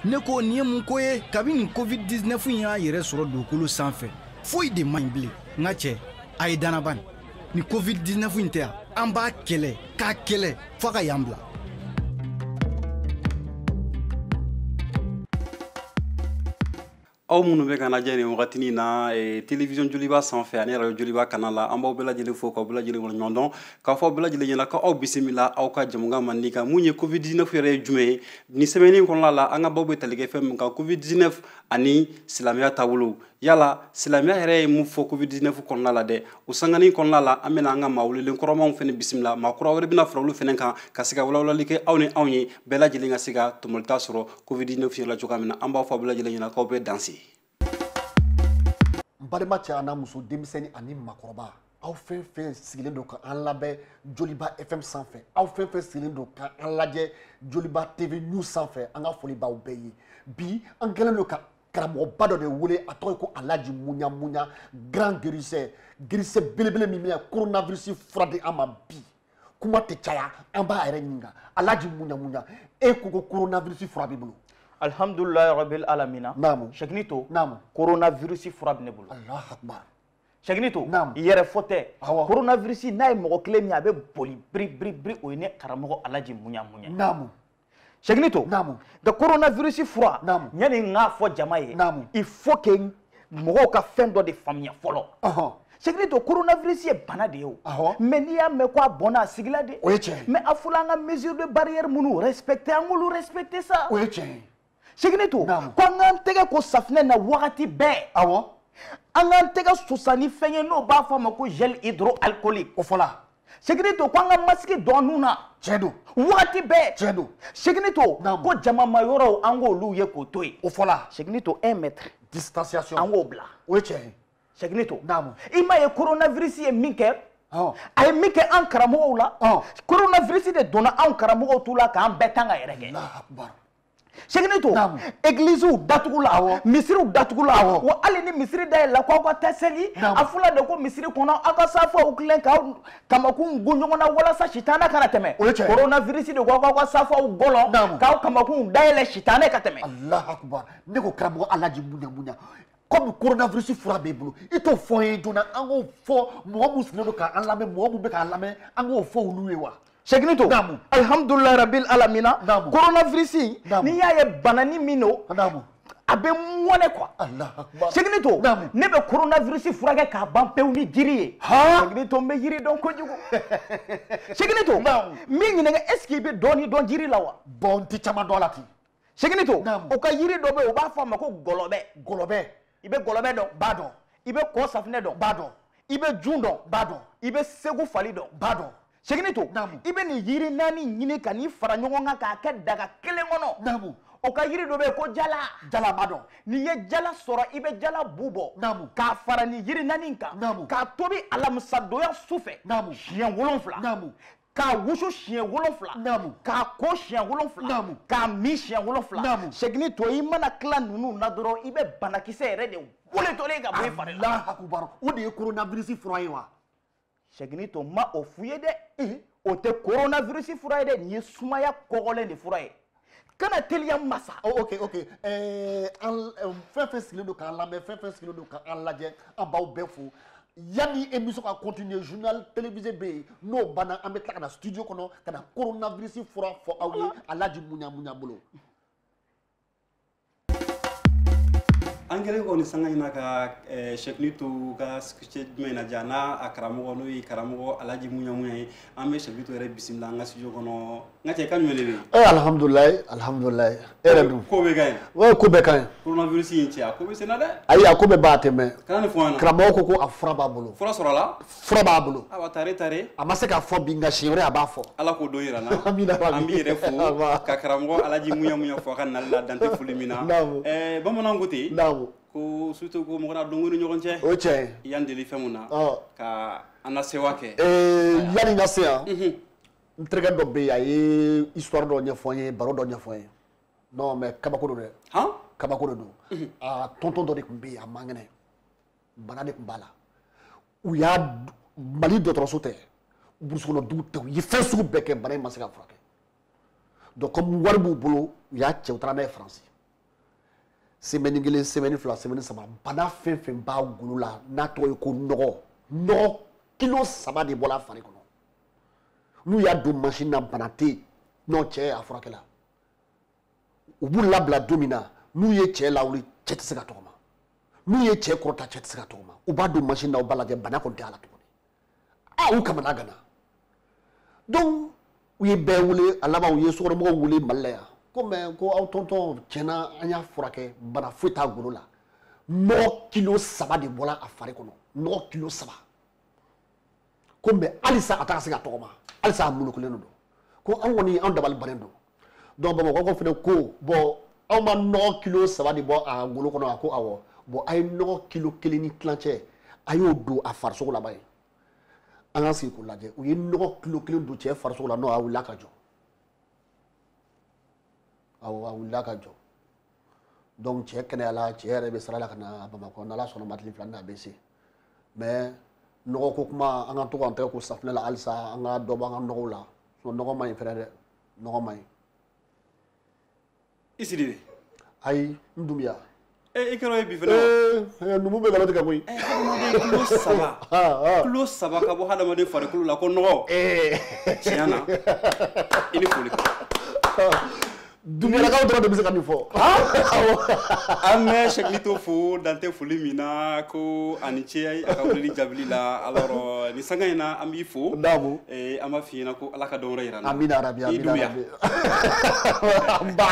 ne ko nin ye mun ko ye kabi nin covid 19 in y'a yɛrɛ sɔrɔ dugukolo sanfɛ foyi de man ɲi bilen n ka cɛ a ye danaba nin ni covid 19 in tɛ yan an b'a kɛlɛ k'a kɛlɛ f'a ka yan bila aw minnu bɛ k'an lajɛ nin wagatinin na eh, television joliba sanfɛ ani radio joliba kana la an b'aw bɛɛ lajɛlen fo k'aw bɛɛ lajɛlen waleɲumandɔn k'a fɔ aw bɛɛ lajɛlen ɲɛna k'aw bisimila aw ka jɛmukan mandi kan mun ye covid 19 yɛrɛ ye jumɛn ye nin semaine nin kɔnɔna la an ka baro bɛ tali kɛ fɛn min kan covid 19 ani silamɛya taabolo yala silamɛya yɛrɛ ye mun fɔ covid 19 kɔnɔna la dɛ o sanganin kɔnɔna la an bɛna an ka maa welelen kɔrɔmanw fana bisimila maa kura wɛrɛ bɛna fara olu fana kan ka se ka walawalali kɛ aw ni anw ye bɛɛ lajɛlen ka se ka tɔmɔlita sɔrɔ covid 19 fiɲɛla cogoya min na an b'a fɔ a bɛɛ lajɛlen ɲɛna k'aw bɛ danse n balima cɛ an'a muso denmisɛnni ani makɔrɔba aw fɛn fɛn sigilen don ka an lamɛn joliba fm sanfɛ aw fɛn fɛn sigilen don ka an lajɛ joliba tv news sanfɛ an ka foli b'aw bɛɛ ye bi an kɛlen don ka karamɔgɔba dɔ de wele a tɔgɔ ye ko alaji muɲa muɲa grand guérisseur guérisseur belebele min bɛna coronavirus fura di an ma bi kuma tɛ caya an b'a yɛrɛ ɲininka alaji muɲa muɲa e ko ko coronavirus fura b'i bolo alhamdulilayi rabil alamina naamu segini to naamu coronavirus fura bɛ ne bolo alahu akbar segini to naamu yɛrɛfo tɛ awɔ coronavirus n'a ye mɔgɔ kelen min a bɛ boli biri biri biri o ye ne karamɔgɔ alaji muɲa muɲa naamu segini to naamu nka coronavirus fura naamu yanni n k'a fɔ jama ye naamu il faut que mɔgɔw ka fɛn dɔ de faamuya fɔlɔ ɔhɔn segini to coronavirus ye bana de ye o Awɔ. mais n'i y'a mɛn ko a bɔnna a sigila de O ye tiɲɛ ye. mais a fɔla an ka mesure de barrière minnu respecter an k'olu respecter sa o ye tiɲɛ ye segini to ko an k'an tɛgɛ ko safinɛ na wagati bɛɛ awɔ an k'an tɛgɛ susa ni fɛn ye n'o b'a fɔ a ma ko gel hydroalcoolique o fɔla segini to ko an ka masigi dɔn nun na tiɲɛ don wagati bɛɛ tiɲɛ don segini to ko jamama yɔrɔw an k'olu ye k'o to yen o fɔla segini to un mètre distanciation an k'o bila o ye tiɲɛ ye segini to i m'a ye coronavirus ye min kɛ Oh. a ye min kɛ an karamɔgɔw la oh. coronavirus de donna anw karamɔgɔw tu la k'an bɛɛ tan ka yɛrɛkɛ segini to egliziw datugula misiriw datugula wa hali ni misiri dayɛlɛla ko aw ka taa seli a fɔla de ko misiri kɔnɔ aw ka safaw tilen ka kamakun gun ɲɔgɔn na walasa sitanɛ kana tɛmɛ coronavirus de ko aw k'aw ka safaw gɔlɔn k'aw kamakun dayɛlɛ sitanɛ ka tɛmɛ alahu akubar ne ko karamɔgɔ alaji muɲa muɲa kɔmi coronavirus fura b'e bolo i t'o fɔ n ye joona an k'o fɔ mɔgɔ minnu sigilen don k'an lamɛn mɔgɔ minnu bɛ k'an lamɛn an k'o fɔ olu ye wa sɛgini to alihamudulila rabil alamina koronavirisi n'i y'a ye bana ni min don a bɛ mɔnɛ kuwa sɛgini to ne bɛ koronavirisi furakɛ k'a ban pewu ni jiri ye sɛgini to n bɛ jiri dɔn kojugu sɛgini to n b'i ɲininka est ce que i bɛ dɔɔni dɔn jiri la wa bɔn n tɛ caman dɔn a la ten sɛgini to u ka jiri dɔ bɛ yen u b'a fɔ a ma ko gɔlɔbɛ gɔlɔbɛ i bɛ gɔlɔbɛ dɔn n b'a dɔn i bɛ kɔsafinɛ dɔn n b'a dɔn i bɛ jun dɔn n b'a dɔn i bɛ segufali dɔn n b'a dɔn sɛgini to i bɛ nin yiri naani ɲini ka n'i fara ɲɔgɔn kan k'a kɛ daga kelen kɔnɔ o ka yiri dɔ bɛ yen ko jala jala n b'a dɔn n'i ye jala sɔrɔ i bɛ jala bu bɔ k'a fara nin yiri naani kan k'a tobi alamisadonya su fɛ siɲɛ wolonfila k'a wusu siɲɛ wolonfila naamu k'a ko siɲɛ wolonfila naamu k'a min siɲɛ wolonfila naamu sɛgini to i mana tila ninnu na dɔrɔn i bɛ banakisɛ yɛrɛ de wulitɔlen ye ka bɔ i fari la akubar o de ye coronavirus fura ye wa sɛgini to n ma o fɔ i ye dɛ o tɛ coronavirus fura ye dɛ nin ye sumaya kɔgɔlen de fura ye kana teliya masa. Oh, ok ok ɛɛ eh, an eh, fɛn fɛn sigilen don k'an lamɛn fɛn fɛn sigilen don k'an lajɛ an b'aw bɛɛ fo yanni émission ka continuer journal télévisé bɛ yen n'o banna an bɛ tila ka na studio kɔnɔ ka na coronavirus fura fɔ aw ye alaji muɲamuɲa bolo. an kɛlen kɔni sanga in na ka eh, sɛgini to ka cɛ jumɛn na ja n'a a karamɔgɔ n'o ye karamɔgɔ alaji muɲamuɲa ye an bɛ sɛgini to yɛrɛ bisimila an ka studio kɔnɔ n ka cɛ ka ɲuman de bɛ yen ee alihamudulilayi alihamudulilayi e yɛrɛ dun ko bɛɛ ka ɲi wa ko bɛɛ ka ɲi coronavirus in cɛ a ko bɛ senna dɛ ayi a ko bɛ ba tɛmɛ kana nin fɔ an na karamɔgɔ ko ko a fura b'a bolo fura sɔrɔla fura b'a bolo awa tare tare a ma se k'a fɔ bi nka siɲɛ wɛrɛ a b'a fɔ ala k'o don yira an na an b'i yɛrɛ fo ka karamɔgɔ alaji muɲamuɲa fo a ka nali la dante foli min na eh, bamanan ko ten ko surtout ko mɔgɔ na donko ni ɲɔgɔn cɛ o cɛ yan deli fɛn mun na ka an na sewa kɛ eh, yanni n ka se yan mhm. n terikɛ dɔ bɛ yen a ye histoire dɔ ɲɛfɔ n ye baro dɔ ɲɛfɔ n ye non mais kabako don dɛ kabako de don a tɔntɔn dɔ de tun bɛ yen a man kɛnɛ bana de tun b'a la u y'a mali dɔgɔtɔrɔso tɛ burusukɔnɔ dugu tɛ u ye fɛn sugu bɛɛ kɛ bana in ma se ka furakɛ donc comme wari b'u bolo u y'a cɛ u taara n'a ye faransi semɛni kelen semɛni fila semɛni saba bana fɛn fɛn b'a golo la n'a tɔgɔ ye ko nɔgɔ nɔgɔ kilo saba de bɔra a fari kɔnɔ n'u y'a don mansin na bana tɛ yen n'o cɛ a furakɛla u b'u labila don min na n'u ye cɛ lawuli cɛ tɛ se ka tɔgɔma n'u ye cɛ kɔrɔta cɛ tɛ se ka tɔgɔma u b'a don masin na u b'a lajɛ bana kɔni tɛ a la tuguni a u kamanaganna donc u ye bɛɛ wele a laban u ye sokɔnɔmɔgɔw wele mali la yan comme ko aw tɔntɔn tiɲɛ na an y'a furakɛ bana foyi t'a golo la nɔgɔ kilo saba de bɔra a fari kɔnɔ nɔgɔ kilo saba ko mɛ halisa a tɛ ka se ka tɔgɔma halisa a mulukulen don ko an kɔni an dabali bannen don donc bamakɔkaw fana ko bon aw ma nɔgɔ kilo saba de bɔ a golo kɔnɔ a ko awɔ bon a ye nɔgɔ kilo kelen ni tilancɛ a y'o don a farisogo la bani an ka sigi k'o lajɛ u ye nɔgɔ kilo kelen don cɛ farisogo la n'o a wulila ka jɔ awɔ a wulila ka jɔ donc cɛ kɛnɛyala cɛ yɛrɛ bɛ sira la ka na bamakɔ n'ala sɔnna ma tile fila na a bɛ se mɛ nɔgɔ ko kuma an ka to k'an tɛgɛ ko safinɛ la halisa an ka dɔ bɔ an ka nɔgɔw la nɔgɔ man ɲi fɛnɛ dɛ nɔgɔ man ɲi i siri de ayi n dunbiya Eh, i kɛra ye bi fana eh, eh, numu bɛ galati ka bɔ yen hadamaden kilo saba kilo saba ka bɔ hadamaden farikolo la ko nɔgɔ tiɲɛ na i ni foli Dunbiyalakaw dɔrɔn de bɛ se ka nin fɔ. An bɛ Sɛkilito fo dan tɛ foli min na ko a ni ce a ka weleli jaabili la alors nin sanga in na an b'i fo. Naamu. Ee an b'a f'i ɲɛna ko Ala ka dɔn wɛrɛ jira an na. Amina yarabi amina yarabi. I Dunbiya. Nba.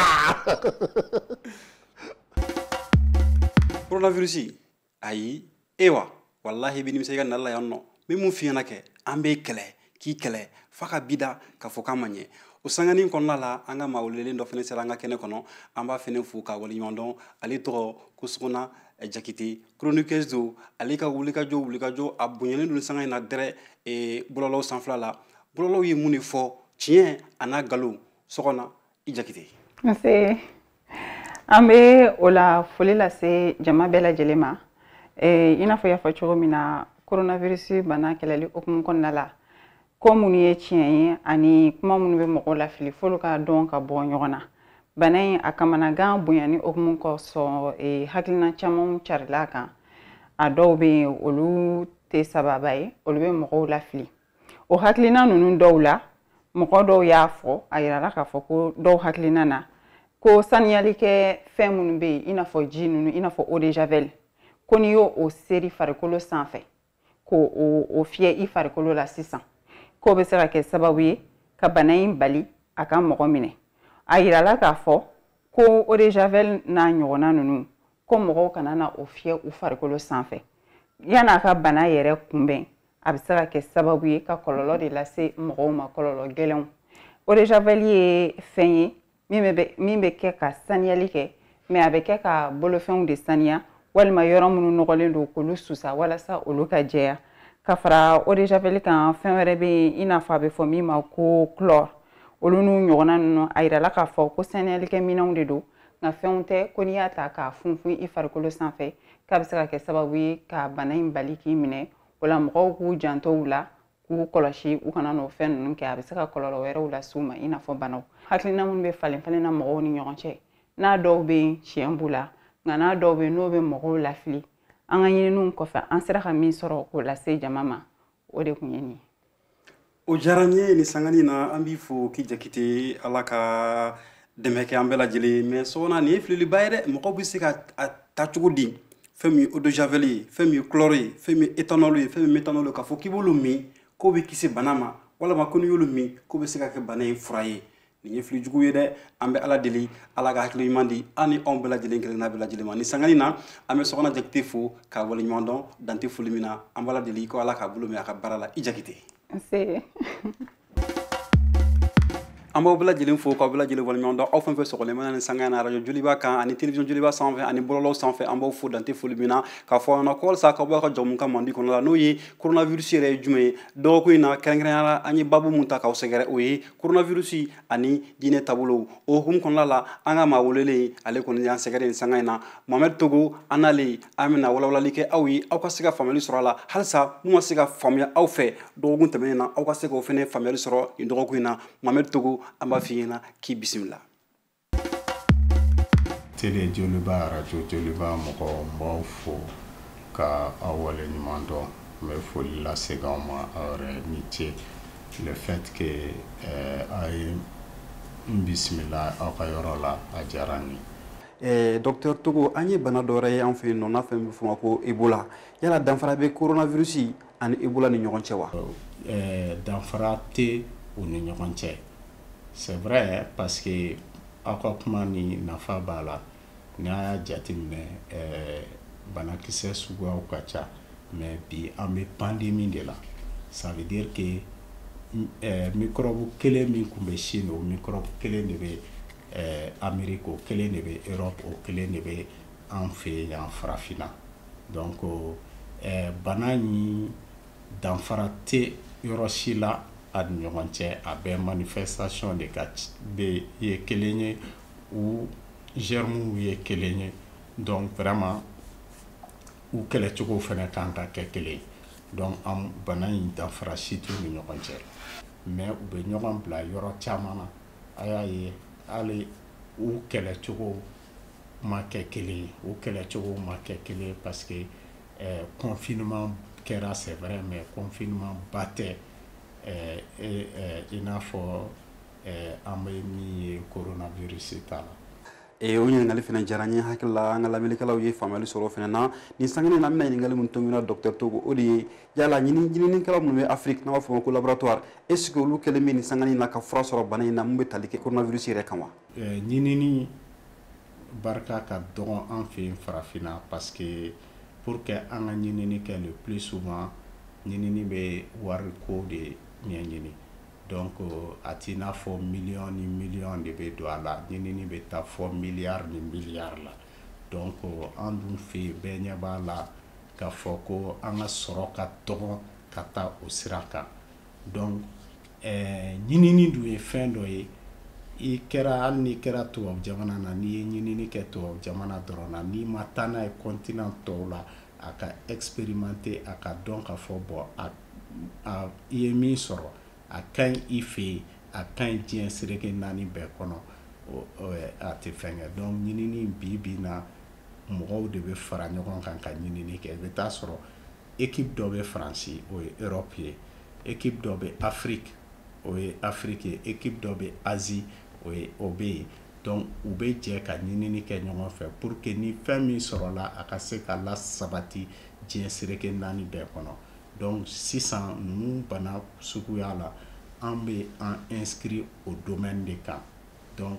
Coronavirus ayi e wa walahi i bɛ nimisa i ka nali la yan nɔ n bɛ mun f'i ɲɛna kɛ an b'i kɛlɛ k'i kɛlɛ f'a ka b'i da k'a fɔ k'a ma ɲɛ o sanganin kɔnɔna la an ka maa welelen dɔ fana sera an ka kɛnɛ kɔnɔ an b'a fana fo k'a waleɲuman dɔn ale tɔgɔ ko sogona eh, jakite chroniqueuse don ale ka wulikajɔ wulikajɔ a bonyalen don nin sanga in na dɛrɛ eh, bɔlɔlɔw sanfɛla la bɔlɔlɔw ye mun de fɔ tiɲɛ a n'a nkalon sogona i jakite nse an bɛ wula foli lase jama bɛɛ lajɛlen ma eh, i n'a fɔ i y'a fɔ cogo min na coronavirus bana kɛlɛli hukumu kɔnɔna la ko minnu ye tiɲɛ ye ani kuma minnu bɛ mɔgɔw lafili f'olu ka dɔn ka bɔ ɲɔgɔn na bana in a kamanagan bonyani hukumu kosɔn eh, hakilina camanw carila a kan a dɔw bɛ yen olu tɛ sababa ye olu bɛ mɔgɔw lafili o hakilina ninnu dɔw la mɔgɔ dɔw y'a fɔ a yirala k'a fɔ ko dɔw hakilina na ko saniyali kɛ fɛn minnu bɛ yen i n'a fɔ ji ninnu i n'a fɔ eau de javel ko n'i y'o seri i farikolo sanfɛ k'o fiyɛ i farikolo la sisan k'o bɛ se ka kɛ sababu ye ka bana in bali a ka mɔgɔ minɛ a yirala k'a fɔ ko eau de javel n'a ɲɔgɔnna ninnu ko mɔgɔw kana na o fiyɛ u farikolo sanfɛ yan'a ka bana yɛrɛ kunbɛn a bɛ se ka kɛ sababu ye ka kɔlɔlɔ de lase mɔgɔw ma kɔlɔlɔ gɛlɛnw eau de javel ye fɛn ye min bɛ min bɛ kɛ ka saniyali kɛ mɛ a bɛ kɛ ka bolofɛnw de saniya walima yɔrɔ minnu nɔgɔlen don k'olu susa walasa olu ka jɛya ka fara eau de javel kan fɛn wɛrɛ bɛ yen i n'a fɔ a bɛ fɔ min ma ko chlore olu n'u ɲɔgɔnna ninnu a yirala k'a fɔ ko saniyalikɛ minɛnw de don nka fɛnw tɛ ko n'i y'a ta k'a funfun i farikolo sanfɛ k'a bɛ se ka kɛ sababu ye ka bana in bali k'i minɛ o la mɔgɔw k'u janto u la k'u kɔlɔsi u kana n'o fɛn ninnu kɛ a bɛ se ka kɔlɔlɔ wɛrɛw lase u ma i n'a fɔ banaw hakilina minnu bɛ falen falen na mɔgɔw ni ɲɔgɔn cɛ n'a dɔw bɛ yen tiɲɛ b'u la nka n'a dɔw bɛ yen n'o bɛ mɔgɔw lafili an ka ɲininiw kɔfɛ an sera ka min sɔrɔ k'o lase jama ma o de tun ye nin ye o diyara n ye nin sangani na an b'i fo k'i jakite ala ka dɛmɛ kɛ an bɛɛ lajɛlen ma sɔgɔna nin ye fililiba ye dɛ mɔgɔw bɛ se ka a ta cogo di fɛn min ye eau de javel ye fɛn min ye chlore ye fɛn min ye éthanol ye fɛn min ye méthanol ye k'a fɔ k'i b'olu min k'o b'i kisi bana ma walama ko n'i y'olu min k'o bɛ se ka kɛ bana in fura ye nin ye fili jugu ye dɛ an bɛ ala deli ala ka hakili ɲuman di an ni anw bɛɛ lajɛlen kelenna bɛɛ lajɛlen ma ni sangani na an bɛ sɔgɔna jakite fo k'a wale ɲuman dɔn dan tɛ foli min na an b'ala deli ko ala k'a bolo minɛ a ka baara la i jakite an b'aw bɛɛ lajɛlen fo k'aw bɛɛ lajɛlen wale ɲuman dɔn aw fɛn o fɛn sɔgɔlen mana nin sanga na arajo joliba kan ani television joliba sanfɛ ani bɔlɔlɔw sanfɛ an b'aw fo dan tɛ foli min na k'a fɔ aw ɲɛna ko halisa k'aw b'a ka jɛmukan mandi kɔnɔna la n'o ye coronavirus yɛrɛ ye jumɛn ye dɔgɔkun in na kɛrɛnkɛrɛnya la an ye babu mun ta k'aw sɛgɛrɛ o ye koronavirusi ani diinɛ taabolow o hukumu kɔnɔna la an ka maa welelen ale kɔni y'an sɛgɛrɛ nin sanga in na mohamɛd togo an n'ale an bɛna walawalali kɛ aw ye aw ka se ka faamuyali sɔrɔ a la halisa mun ma se ka faamuya aw fɛ dɔgɔkun tɛmɛnen na aw ka se k'o fɛnɛ faamuyali sɔrɔ nin dɔgɔkun in na mohamɛd togo an b'a f'i ɲɛna k'i bisimila tele joliba arajo joliba mɔgɔw n b'aw fo ka aw wale ɲuman dɔn n bɛ foli lase aw ma aw yɛrɛ ni ce le fait que eh, aw ye n bisimila aw ka yɔrɔ la a diyara n ye Eh, docteur togo an ye bana dɔ wɛrɛ ye an fɛ yan nɔ n'a fɛnɛ bɛ fɔ a ma ko ebola yala danfara bɛ coronavirus ani ebola ni ɲɔgɔn cɛ wa eh, danfara tɛ u ni ɲɔgɔn cɛ c'est vrai parce que aw ka kuma nin nafa b'a la n'a y'a jateminɛ eh, banakisɛ suguyaw ka ca mais bi an bɛ pandemi de la ça veut dire que eh, mikɔrɔbu kelen min tun bɛ Chine o mikɔrɔbu kelen de bɛ eh, Amérique o kelen de bɛ Europe o kelen de bɛ an fɛ yan farafinna Donc bana nin danfara tɛ yɔrɔ si la a ni ɲɔgɔn cɛ a bɛɛ manifestation de ye kelen ye u germes ye kelen ye donc vraiment u kɛlɛcogo fana kan ka kɛ kelen donc an bana in danfara si t'u ni ɲɔgɔn cɛ mais u bɛ ɲɔgɔn bila yɔrɔ caman na a y'a ye hali u kɛlɛcogo ma kɛ kelen ye o kɛlɛcogo ma kɛ kelen ye parce que euh, confinement kɛra c'est vrai mais confinement ba tɛ euh, e, euh, i n'a fɔ euh, an bɛ min ye coronavirus ta la Eh, o ɲininkali fana diyara n ye hakili la an ka lamɛnnikɛlaw ye faamuyali sɔrɔ o fana na nin sanga in na an bɛna ɲininkali min tugu nin na dɔktɛr togo o de ye yala ɲininikɛlaw minnu bɛ afiriki n'an b'a fɔ ma ko laboratoire est ce que olu kɛlen bɛ nin sanga in na ka fura sɔrɔ bana in na min bɛ tali kɛ coronavirus yɛrɛ kan wa Eh, ɲinini barika ka dɔgɔn an fɛ yen farafinna parce que pour que an ka ɲinini kɛ le plus souvent ɲinini bɛ wari ko de ɲɛɲini donc a t'i n'a fɔ miliyɔn ni miliyɔn de bɛ don a la ɲinini bɛ taa fɔ miliyari ni miliyari la donc an dun fɛ yen bɛɛ ɲɛ b'a la k'a fɔ ko an ka sɔrɔ ka dɔgɔn ka taa o sira kan donc eh, ɲinini dun ye fɛn dɔ ye i kɛra hali n'i kɛra tubabu jamana na n'i ye ɲinini kɛ tubabu jamana dɔrɔn na n'i ma taa n'a ye kɔntinan tɔw la a ka expérimenter a ka dɔn ka fɔ bon a a i ye min sɔrɔ a ka ɲi i fɛ yen a ka ɲi diɲɛ sereke naani bɛɛ kɔnɔ a tɛ fɛn ɲɛ donc ɲinini bi bi na mɔgɔw de bɛ fara ɲɔgɔn kan ka ɲinini kɛ i bɛ t'a sɔrɔ ekipu dɔ bɛ faransi o ye erɔpu ye ekipu dɔ bɛ afiriki o ye afiriki ye ekipu dɔ bɛ azi o ye o bɛ yen donc u bɛ jɛ ka ɲinini kɛ ɲɔgɔn fɛ pour que ni fɛn min sɔrɔla a ka se ka lasabati diɲɛ sereke naani bɛɛ kɔnɔ donc sisan ninnu bana suguya la an bɛ an inscrire o domaine de kan donc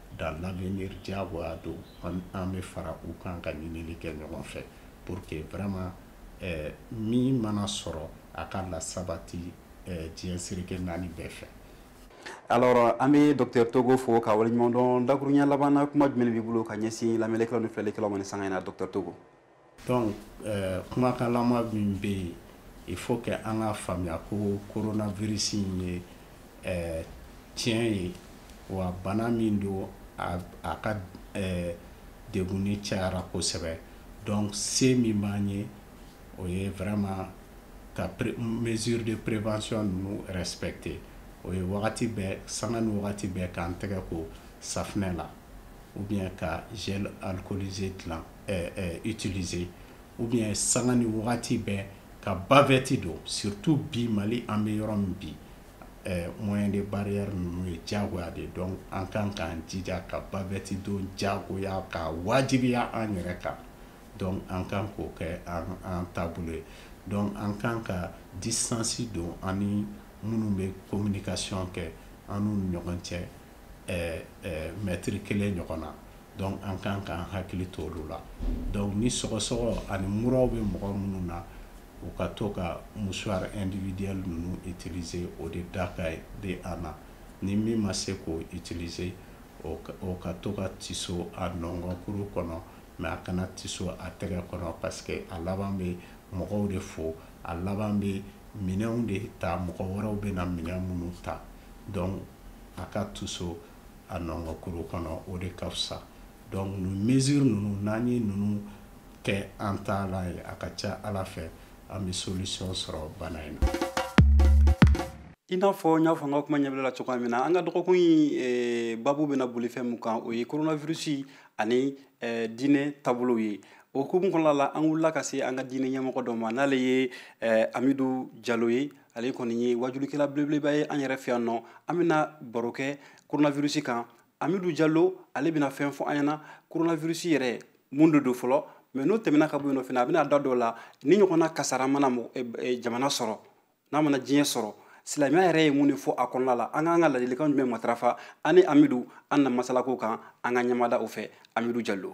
dans l'avenir diyagoya don an bɛ fara u kan ka ɲinili kɛ ɲɔgɔn fɛ pour que vraiment eh, min mana sɔrɔ a ka lasabati eh, diɲɛ sereke naani bɛɛ fɛ alors an bɛ docteur togo fo ka waleɲumandɔn dakuruɲɛ labanna kuma jumɛn b'i bolo ka ɲɛsin lamɛnnikɛlaw ni filɛlikɛlaw ma nin sanga in na docteur togo donc euh, kumakan laban min bɛ yen il faut que an ka faamuya ko coronavirus in ye euh, tiɲɛ ye wa bana min don a, a ka euh, degunni cayara kosɛbɛ donc se min b'an ye o ye vraiment ka mesure de prévention ninnu respecter o ye wagati bɛɛ sanga ni wagati bɛɛ k'an tɛgɛ ko safinɛ la ou bien ka gel alcoolisé dilan utiliser ou bien sanga ni wagati bɛɛ ka bavɛti don surtout bi Mali an bɛ yɔrɔ min bi moyen de barrière ninnu ye diyagoya de ye donc an ka kan k'an jija ka bavɛti don diyagoya ka wajibiya an yɛrɛ kan donc an kan k'o kɛ an taabolo ye donc an kan ka distance don an ni minnu bɛ communication kɛ an n'u ni ɲɔgɔn cɛ mɛtiri kelen ɲɔgɔn na donc an ka kan k'an hakili to olu la donc ni sɔgɔsɔgɔ ani mura bɛ mɔgɔ minnu na u ka to ka mouchoir individuel ninnu utiliser o de da ka ye de a na ni min ma se k'o utiliser o ka to ka tiso a nɔnkɔnkuru kɔnɔ mais a kana tiso a tɛgɛ kɔnɔ parce que a laban bɛ mɔgɔw de fo a laban bɛ minɛnw de ta mɔgɔ wɛrɛw bɛna minɛn minnu ta donc a ka tiso a nɔnkɔnkuru kɔnɔ o de ka fisa donc nin mesure ninnu n'an ye ninnu kɛ an taala ye a ka ca ala fɛ an bɛ solution sɔrɔ bana in na i n'a fɔ n y'a fɔ n ka kuma ɲɛbila la cogoya min na an ka dɔgɔkun in eh, babu bɛna boli fɛn min kan o ye coronavirusi ani eh, diinɛ taabolow ye o hukumu kɔnɔna la an wulila ka se an ka diinɛ ɲɛmɔgɔ dɔ ma n'ale ye eh, amidu jalo ye ale kɔni ye wajulikɛla belebeleba ye an yɛrɛ fɛ yan nɔ an bɛna baro kɛ coronavirus kan amidu jalo ale bɛna fɛn fɔ an ɲɛna coronavirus yɛrɛ mun de don fɔlɔ mais n'o tɛmɛna ka bɔ yen nɔ fana a bɛna da don a la nin ɲɔgɔnna kasara mana eh, eh, jamana sɔrɔ n'a mana diɲɛ sɔrɔ silamɛya yɛrɛ ye mun de fɔ a kɔnɔna la an ka kan ka ladilikan jumɛn matarafa ani amidu an na masalako kan an ka ɲɛmada o fɛ amidu jalo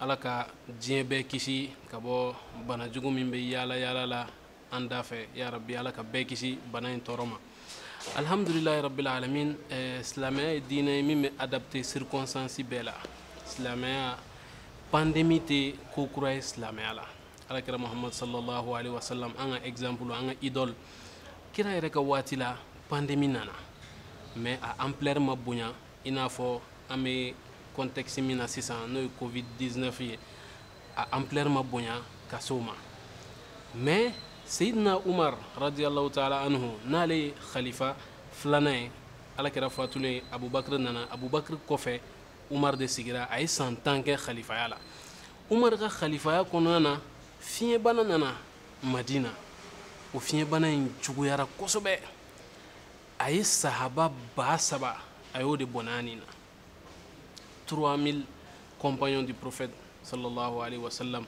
ala ka diɲɛ bɛɛ kisi ka bɔ bana jugu min bɛ yaala yaala la an dafɛ ya rabi ala ka bɛɛ kisi bana in tɔɔrɔ ma alhamdulilayi rabil alamin eh, silamɛya ye diinɛ ye min bɛ adapte circonstance bɛɛ la silamɛya pandemi tɛ ko kura ye silamɛya la ala kira muhammad sallallahu alaihi wasallam an ka exemple an ka idole kira yɛrɛ ka waati la pandemi nana mais a ampleur ma bonya i n'a fɔ an bɛ contexte min na sisan n'o ye covid 19 ye a ampleur ma bonya ka s'o ma mais seyidina umar radiyallahu taala anhu n'ale ye khalifa filanan ye ala kira fatulen ye abubakar nana abubakar kɔfɛ umar de sigira a ye san tan kɛ khalifaya la umar ka khalifaya kɔnɔna na fiɲɛbana nana madina o fiɲɛbana in juguyara kosɛbɛ a ye sahaba ba saba a y'o de bɔnɛ a ni na 3000 compagnons du prophète sallallahu alayhi wa sallam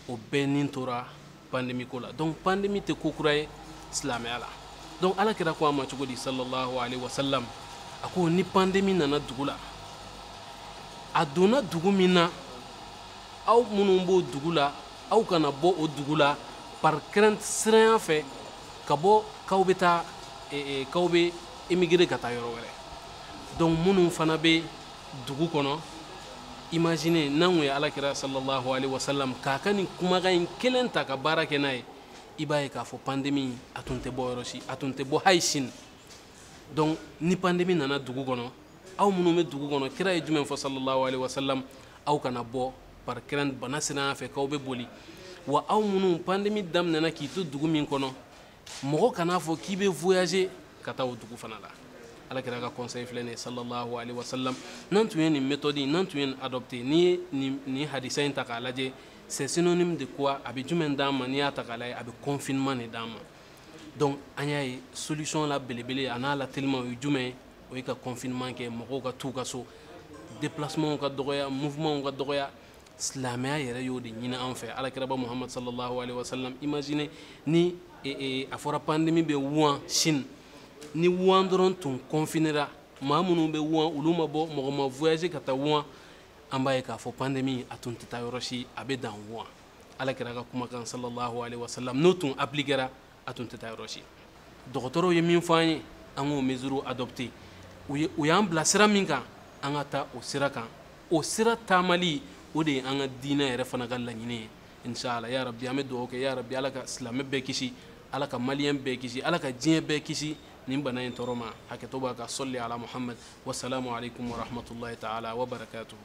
o bɛɛ ni tora pandemi ko la donc pandemi tɛ ko kura ye silamɛya la donc ala kira ko a ma cogo di sallallahu alayhi wa sallam a ko ni pandemi nana dugu la a donna dugu min na aw minnu b'o dugu la aw kana bɔ o dugu la par crainte siranya fɛ ka bɔ k'aw bɛ taa eh, eh, k'aw bɛ émigrer ka taa yɔrɔ wɛrɛ donc minnu fana bɛ dugu kɔnɔ imagine n'an tun ye alakira sallallahu alaihi wa sallam ka ka nin kumakan in kelen ta ka baara kɛ n'a ye i b'a ye k'a fɔ pandemi a tun tɛ bɔ yɔrɔ si a tun tɛ bɔ hali chine donc ni pandemi nana dugu kɔnɔ aw minnu bɛ dugu kɔnɔ kira ye jumɛn fɔ sallallahu alaihi wa sallam aw kana bɔ par crainte bana siranya fɛ k'aw bɛ boli wa aw minnu pandemi daminɛna k'i to dugu min kɔnɔ mɔgɔ kan'a fɔ k'i bɛ voyager ka taa o dugu fana la alakira ka conseil filɛ nin ye sallallahu alaihi wa sallam n'an tun ye nin méthode in n'an tun ye nin adopter n'i ye nin nin hadisa in ta k'a lajɛ c'est synonyme de quoi a bɛ jumɛn d'an ma n'i y'a ta k'a lajɛ a bɛ confinement de d'an ma donc an y'a ye solution la belebele an'a la teliman o ye jumɛn ye o ye ka confinement kɛ mɔgɔw ka t'u ka so déplacement ka dɔgɔya mouvement ka dɔgɔya silamɛya yɛrɛ y'o de ɲini an fɛ alakiraba muhamadu sallallahu alaihi wa sallam imagine ni e, e, a fɔra pandemi bɛ wuhan chine ni wuhan dɔrɔn tun confinera maa minnu bɛ wuhan olu ma bɔ mɔgɔ ma voyager ka taa wuhan an b'a ye k'a fɔ pandemi a tun tɛ taa yɔrɔ si a bɛ dan wuhan alakira ka kumakan sallallahu alaihi wa sallam n'o tun appliquera a tun tɛ taa yɔrɔ si dɔgɔtɔrɔw ye min fɔ an ye an k'o mesure adopter u ye u y'an bila sira min kan an ka taa o sira kan o sira taamali o de ye an ka diinɛ yɛrɛ fana ka laɲini ye inshallah ya rabbi an bɛ dugawu kɛ ya rabbi ala ka silamɛ bɛɛ kisi ala ka maliyɛn bɛɛ kisi ala ka diɲɛ bɛɛ kisi nin bana in tɔɔrɔ ma hakɛto b'a kan salli ala muhammad wasalamu alaikum warahmatullahi taala wabarakatuhu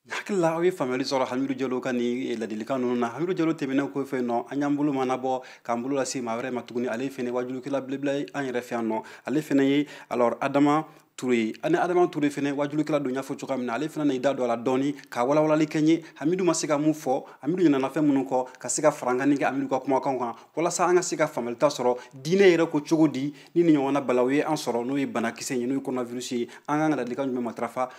hakili la aw ye faamuyali sɔrɔ hamidu jalo ka nin ladilikan ninnu na hamidu jalo tɛmɛnen kɔfɛ nɔ an y'an bolo mɔɔnɔbɔ k'an bolo lase maa wɛrɛ ma tuguni ale fɛnɛ wajulukɛla belebela ye an yɛrɛ fɛ yan nɔ ale fɛnɛ ye alors adama ture ani adama ture fɛnɛ wajulukɛla don n y'a fɔ cogoya min na ale fɛnɛ na i da don a la dɔɔni ka walawalali kɛ ye hamidu ma se ka min fɔ hamidu ɲinana fɛn minnu kɔ ka se ka farankanni kɛ hamidu ka kumakanw kan walasa an ka se ka faamuyali sɔrɔ diinɛ yɛrɛ ko cogo di ni nin ɲɔgɔnna balaw ye an sɔrɔ n'o ye banakisɛ ye n'o ye koronavirisi ye an kan ka ladilikan jumɛn matarafa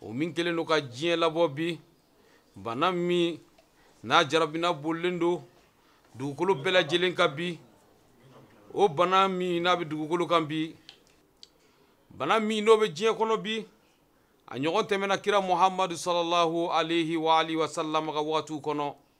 o min kɛlen don ka diɲɛ labɔ bi bana min n'a jarabina bolilen don dugukolo bɛɛ lajɛlen kan bi o bana min n'a bɛ dugukolo kan bi bana min n'o bɛ diɲɛ kɔnɔ bi a ɲɔgɔn tɛmɛna kira muhamadu sallallahu alayhi wa alihi wa sallam ka wagatiw kɔnɔ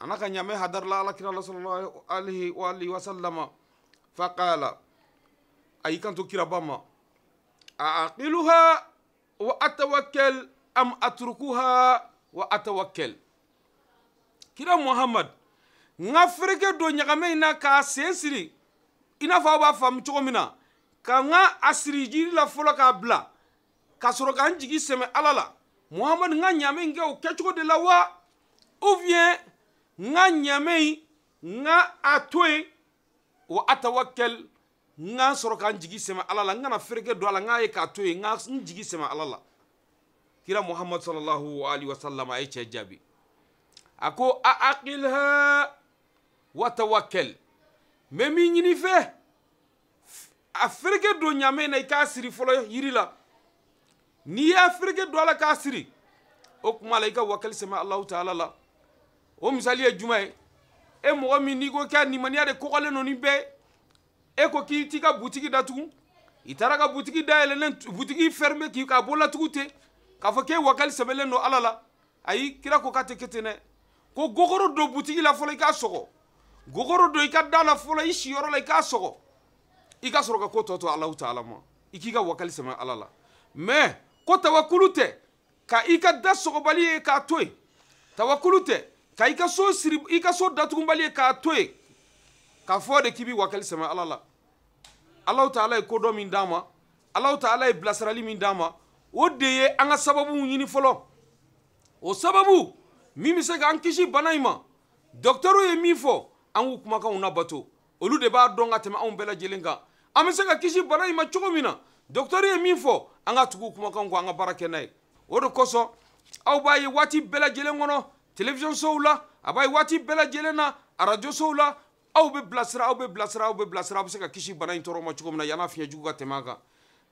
a n'a ka ɲamɛ hadarila alakira la sallallahu alaihi wa alihi wa sallama fa qala a y'i kanto kiraba ma a aqiluha wa atawakkal am atrukuha wa atawakkal kira muhammad n ka fereke don ɲagamɛ in na k'a sen siri i n'a fɔ aw b'a faamu cogo min na ka n ka a siri jiri la fɔlɔ k'a bila ka sɔrɔ ka n jigi sɛmɛ ala la muhamadu n ka ɲaamɛ in kɛ o kɛcogo de la wa ou bien n ka ɲaamɛ in n ka a to yen wa atawakɛl n ka sɔrɔ ka n jigi sɛmɛ ala la n kana fereke don a la n k'a ye k'a to yen n ka n jigi sɛmɛ ala la kira muhammad sallallahu alaihi wasallam a ye cɛ jaabi a ko a aqilha wa tawakɛl n bɛ min ɲini i fɛ a fereke don ɲamɛ na i k'a siri fɔlɔ yiri la n'i y'a fereke don a la k'a siri o kuma la i ka wakali sɛmɛ alahu taala la o misali ye jumɛn ye e mɔgɔ min n'i ko k'i limaniya de kɔgɔlen don ni bɛɛ e ko k'i t'i ka butigi datugu i taara ka butigi dayɛlɛlen butigi fɛrime k'i k'a bolatugu ten k'a fɔ k'e wakali sɛmɛlen don ala la ayi kira ko k'a tɛ kɛ ten dɛ ko gogoro don butigi la fɔlɔ i k'a sɔgɔ gogoro don i ka da la fɔlɔ i siyɔrɔ la i k'a sɔgɔ i ka sɔrɔ ka ko tɔ to alahu taala ma i k'i ka wakali sɛmɛ ala la mais ko tawakulu tɛ ka i ka da sɔgɔbali ye k'a to yen tawakulu tɛ ka i ka so siri i ka so datugunbali ye k'a to yen k'a fɔ de k'i b'i wakali sɛmɛ ala la alahu taala ye kodɔn min d'an ma alahu taala ye bilasirali min d'an ma o de ye an ka sababu ɲini fɔlɔ o sababu min bɛ se k'an kisi bana in ma dɔkitɛriw ye min fɔ an k'u kumakanw labato olu de b'a dɔn ka tɛmɛ anw bɛɛ lajɛlen kan an bɛ se ka kisi bana in ma cogo min na dɔkitɛri ye min fɔ an ka tugu kumakan kɔ an ka baara kɛ n'a ye o de kosɔn aw b'a ye waati bɛɛ lajɛlen kɔnɔ television sow la aw b'a ye waati bɛɛ lajɛlen na arajo sow la aw bɛ bilasira aw bɛ bilasira aw bɛ bilasira aw bɛ se ka kisi bana in tɔɔrɔ ma cogo min na yann'a fiɲɛ jugu ka tɛmɛ an kan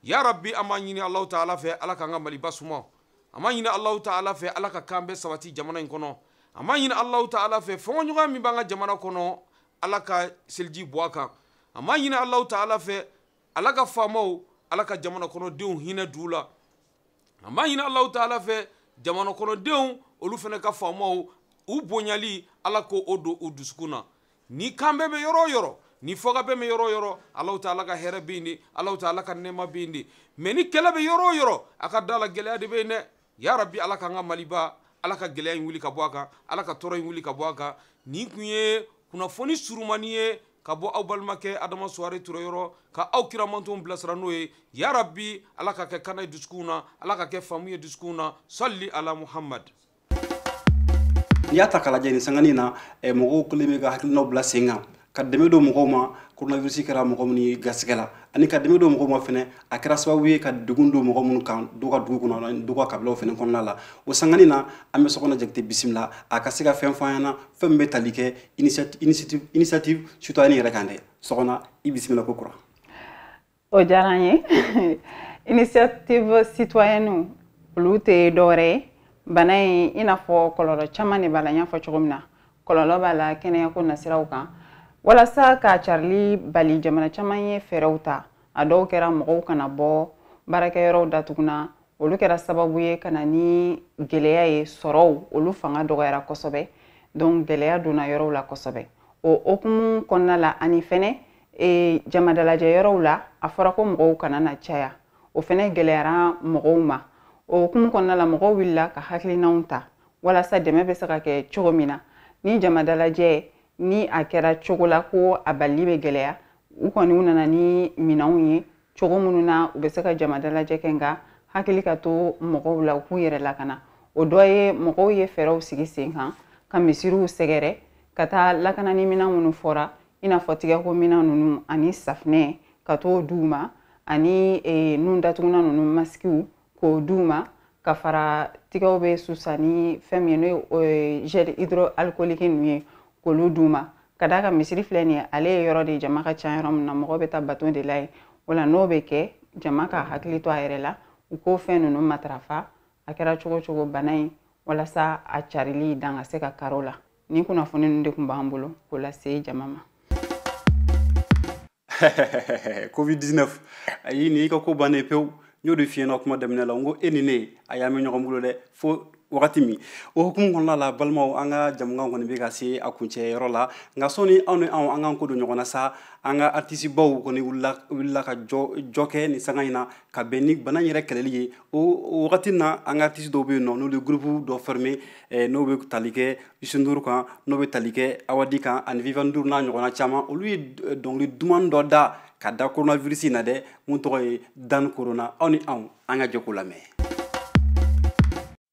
ya rabi an b'a ɲini alahu taala fɛ ala k'an ka maliba suma an b'a ɲini alahu taala fɛ ala ka kanbɛn sabati jamana in kɔnɔ an b'a ɲini alahu taala fɛ fɔnkɔɲɔgɔnya min b'an ka jamana kɔnɔ ala ka seliji bɔn a kan an b'a ɲini alahu taala fɛ ala ka faamaw ala ka jamana kɔnɔdenw hinɛ don u la an b'a ɲini alahu taala fɛ jamana kɔnɔdenw olu fana ka faamaw u bonyali ala k'o don u dusukun na ni kanbɛn bɛ yɔrɔ o yɔrɔ ni fɔkabɛn bɛ yɔrɔ o yɔrɔ alahu taala ka hɛrɛ bɛ yen de alahu taala ka nɛɛma bɛ yen de mais ni kɛlɛ bɛ yɔrɔ o yɔrɔ a ka da a la gɛlɛya de bɛ yen dɛ ya rabi ala k'an ka maliba ala ka gɛlɛya in wuli ka bɔ a kan ala ka tɔɔrɔ in wuli ka bɔ a kan nin kun ye kunnafoni surumani ye ka bɔ aw balimakɛ adama suware ture yɔrɔ ka aw kira mantonw bilasira n'o ye ya rabi ala k'a kɛ kalan ye dusukunw na ala k'a kɛ faamu ye dusukunw na sali ala muhamad n'i y'a ta k'a lajɛ nin sanganin na eh, mɔgɔw kɛlen bɛ ka hakilinaw bila sen kan ka dɛmɛ don mɔgɔw ma coronavirus kɛra mɔgɔ minnu ye garisigɛ la ani ka dɛmɛ don mɔgɔw ma fɛnɛ a kɛra sababu ye ka degun don mɔgɔ minnu kan dɔ ka dugu kɔnɔ ani dɔ ka kabilaw fɛnɛ kɔnɔna la o sangani na an bɛ sɔkɔna jakite bisimila a ka se ka fɛn fɔ an ɲɛna fɛn min bɛ tali kɛ initiative citoyenne yɛrɛ kan dɛ sɔkɔna i bisimila kokura o diyara an ye initiative citoyenne olu tɛ dɔwɛrɛ ye bana in i n'a fɔ kɔlɔlɔ caman de b'a la n y'a fɔ cogo min na kɔlɔlɔ b'a la kɛnɛyako nasiraw kan walasa k'a carili bali jamana caman ye fɛɛrɛw ta a dɔw kɛra mɔgɔw kana bɔ baarakɛyɔrɔw datugunna olu kɛra sababu ye ka na ni gɛlɛya ye sɔrɔw olu fanga dɔgɔyara kosɛbɛ donc gɛlɛya donna yɔrɔw la kosɛbɛ o hokumu kɔnɔna la ani fɛnɛ e, jamadalajɛ yɔrɔw la a fɔra ko mɔgɔw kana na caya o fɛnɛ gɛlɛyara mɔgɔw ma o hukumu kɔnɔna la mɔgɔw wulila ka hakilinanw ta walasa dɛmɛ bɛ se ka kɛ cogo min na ni jamadalajɛ ni a kɛra cogo la ko a balili bɛ gɛlɛya u kɔni u nana ni minɛnw ye cogo minnu na u bɛ se ka jama dalajɛ kɛ nka hakili ka to mɔgɔw la u k'u yɛrɛ lakana o dɔ ye mɔgɔw ye fɛɛrɛw sigi sen kan ka misiriw sɛgɛrɛ ka taa lakanani minɛn minnu fɔra i n'a fɔ tigɛko minɛn ninnu ani safinɛ ka t'o di u ma ani nun datugunan ninnu masikiw k'o d'u ma ka fara tigɛw bɛ susa ni fɛn min ye n'o ye gel hydroalcoolique ninnu ye k'olu d'u ma ka d'a kan misiri filɛ nin ye ale ye yɔrɔ de ye jama ka ca yɔrɔ min na mɔgɔ bɛ taa bato de la yen o la n'o bɛ kɛ jama ka hakili to a yɛrɛ la u k'o fɛn ninnu matarafa a kɛra cogo cogo bana in walasa a carili dan ka se ka kari o la Nin kunnafoni ninnu de tun b'an bolo k'o lase jama ma. Covid 19 ayi nin y'i ka ko bannen pewu n y'o de f'i ɲɛ na kuma daminɛ la n ko e ni ne a y'a mɛn ɲɔgɔn bolo dɛ fo wagati min o hukumu kɔnɔna la balimaw an ka jamukan kɔni bɛ ka se a kuncɛ yɔrɔ la nka sɔni aw ni anw an k'an kɔ don ɲɔgɔn na sa an ka artisibaw kɔni wulila ka jɔ kɛ nin sanga in na ka bɛn ni bana in yɛrɛ kɛlɛli ye o wagati na an ka artiste dɔw bɛ yen nɔ n'olu ye groupe dɔ former eh, n'o bɛ tali kɛ Youssou Ndour kan n'o bɛ tali kɛ Awadi kan ani Viviane Ndour n'a ɲɔgɔnna caman olu ye eh, dɔnkili duman dɔ da ka da coronavirus in na dɛ mun tɔgɔ ye Daan Corona aw ni anw an ka jɛ k'o lamɛn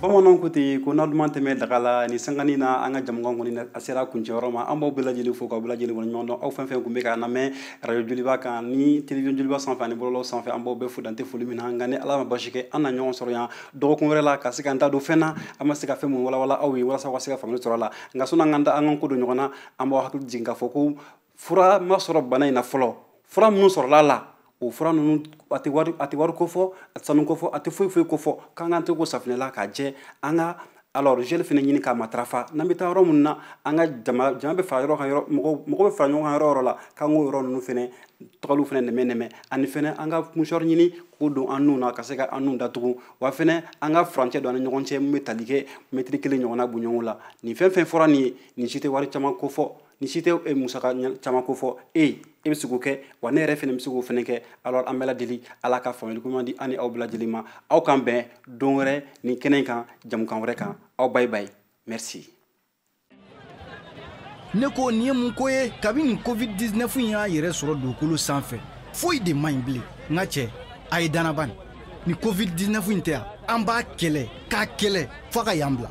bamananw ko ten ko na duman tɛ mɛn daga la nin sanga in na an ka jamukan kɔni a sera kuncɛyɔrɔ ma an b'aw bɛɛ lajɛlen fo k'aw bɛɛ lajɛlen waleɲumandɔn aw fɛn fɛn tun bɛ k'a lamɛn radio joliba kan ni television joliba sanfɛ ani bɔlɔlɔ sanfɛ an b'aw bɛɛ fo dan tɛ foli min na nka ni ala ma baasi kɛ an na ɲɔgɔn sɔrɔ yan dɔgɔkun wɛrɛ la ka se k'an da don fɛn na an ma se ka fɛn mun walawala aw ye walasa aw ka se ka faamuyali sɔrɔ a la nka sɔnni an ka an kɔ don ɲɔgɔn na an b'aw hakili jigin k'a fɔ ko fura ma sɔrɔ bana in na fɔlɔ fura minnu sɔrɔla a la o fura ninnu a tɛ wari a tɛ wari kofɔ a tɛ sanu kofɔ a tɛ foyi foyi kofɔ k'an k'an tigɛ ko safinɛ la k'a jɛ an ka alors gel fana ɲini k'a matarafa n'an bɛ taa yɔrɔ minnu na an ka jama jama bɛ fara yɔrɔ kan yɔrɔ mɔgɔ mɔgɔ bɛ fara ɲɔgɔn kan yɔrɔ yɔrɔ la k'an k'o yɔrɔ ninnu fana tagaliw fana nɛmɛ nɛmɛ ani fana an ka musɔrɔ ɲini k'o don an nun na ka se ka an nun datugu wa fana an ka furancɛ don an ni ɲɔgɔn cɛ min bɛ tali kɛ mɛtiri kelen ɲɔgɔnna bɔ ɲɔgɔn kɔ la nin fɛn fɛn fɔra nin ye nin si tɛ wari caman kofɔ ni si tɛ e musaka caman ko fɔ e ye e bɛ se k'o kɛ wa ne yɛrɛ fana bɛ se k'o fana kɛ alors an bɛ ala deli ala ka faamuyali ko ɲuman di an ni aw bɛɛ lajɛlen ma aw k'an bɛn don wɛrɛ nin kɛnɛ in kan jamukan wɛrɛ kan aw bayi bayi merci ne ko nin ye mun ko ye kabi nin covid 19 in y'a yɛrɛ sɔrɔ dugukolo sanfɛ foyi de man ɲi bilen n ka cɛ a ye banaba nin ni covid 19 in tɛ an b'a kɛlɛ k'a kɛlɛ f'a ka yan bila